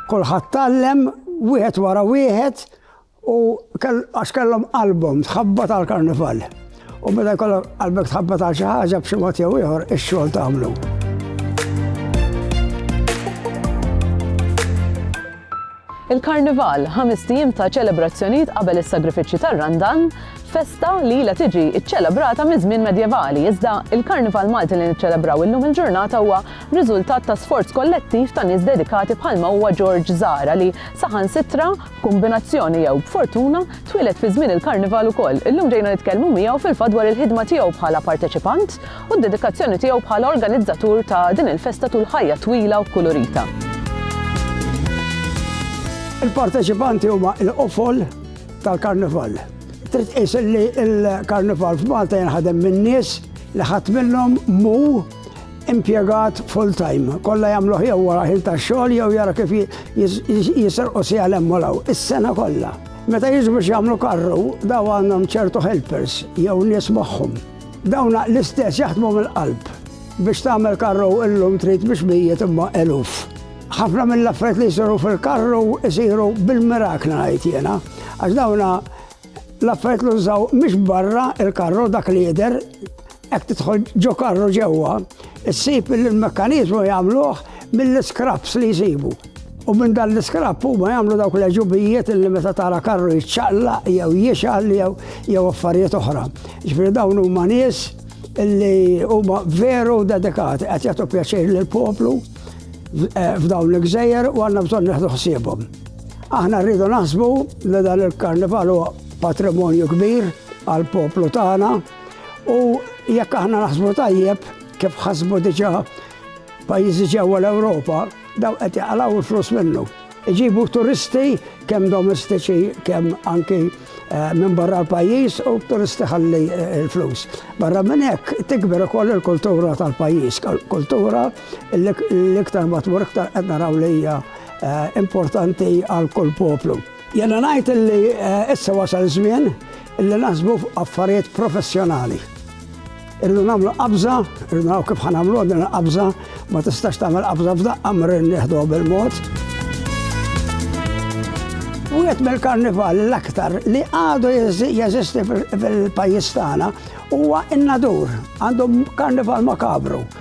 Kulħadd tallem wieħed wara wieħed u għax kellhom album tħabbat għal karnival. U meta jkollok qalbek tħabbat għal xi ħaġa b'xi mod jew ieħor ix-xogħol tagħmlu. Il-Karnival, ħamest ijiem ta' ċelebrazzjonijiet qabel is-sagrifiċċju tar-Randan, festa li ilha tiġi ċċelebrata miż-żmien medjevali, iżda il-Karnival Malti li niċċelebraw illum il-ġurnata huwa riżultat ta' sforz kollettiv ta' nies dedikati bħalma huwa George Zahra li saħansitra b'kumbinazzjoni jew b'fortuna twieled fi żmien il-Karnival ukoll. Illum ġejna nitkellmu miegħu fil-fatt dwar il-ħidma tiegħu bħala parteċipant u d-dedikazzjoni tiegħu bħala organizzatur ta' din il-festa tul ħajja twila u kulurita. Il-parteċipanti huma l-qofol tal-karnival. Trid tqis li l-karnival f'Malta jinħadem min-nies li ħadd minnhom mu impjegat full time. Kollha jagħmlu jew wara ħin tax-xogħol jew jara kif jisirqu si għal emmolaw is-sena kollha. Meta jiġu biex jagħmlu karru, daw għandhom ċertu helpers jew nies magħhom. Dawn l-istess jaħdmu mill-qalb. Biex tagħmel karru illum trid biex mijiet imma eluf. Ħafna mill-affarijiet li jsiru fil-karru jsiru bil-mirakna ngħid jiena. Għax dawna l-affarijiet li nżaw mhix barra il-karru dak li jidher hekk tidħol ġo karru ġewwa, issib li l-mekkaniżmu jagħmluh mill-iskraps li jsibu. U minn dan l-iskrapp huma jagħmlu dawk l-għeġubijiet li meta tara karru jiċċaqlaq jew jixgħal jew jew affarijiet oħra. Ġifieri dawn huma nies li huma veru dedikati qed jagħtu pjaċir lill-poplu eh, f'dawn l-gżejjer u għandna bżonn neħdu ħsiebhom. Aħna rridu naħsbu li dan il-karnival huwa patrimonju kbir għall poplu tagħna u jekk aħna naħsbu tajjeb kif ħasbu diġà pajjiżi ġewwa l-Ewropa Daw qed jaqalgħu l-flus minnu. Iġibu turisti kemm domestiċi kemm anki eh, minn barra l-pajjiż u turisti ħalli eh, l-flus. Barra minn hekk tikber ukoll il-kultura tal-pajjiż, kultura l-iktar matmur iktar qed naraw li hija eh, importanti għal kull poplu. Jiena ngħid li issa wasal iż-żmien li naħsbu fuq affarijiet professjonali. Irridu nagħmlu qabża, irridu naraw kif ħa nagħmluha din il-qabża, ma tistax tagħmel qabża f'daqqa mri nieħduha bil-mod. Wieħed mill-karnival l-aktar li għadu jeżisti fil-pajjiż tagħna huwa n-nadur. Għandhom karnival makabru.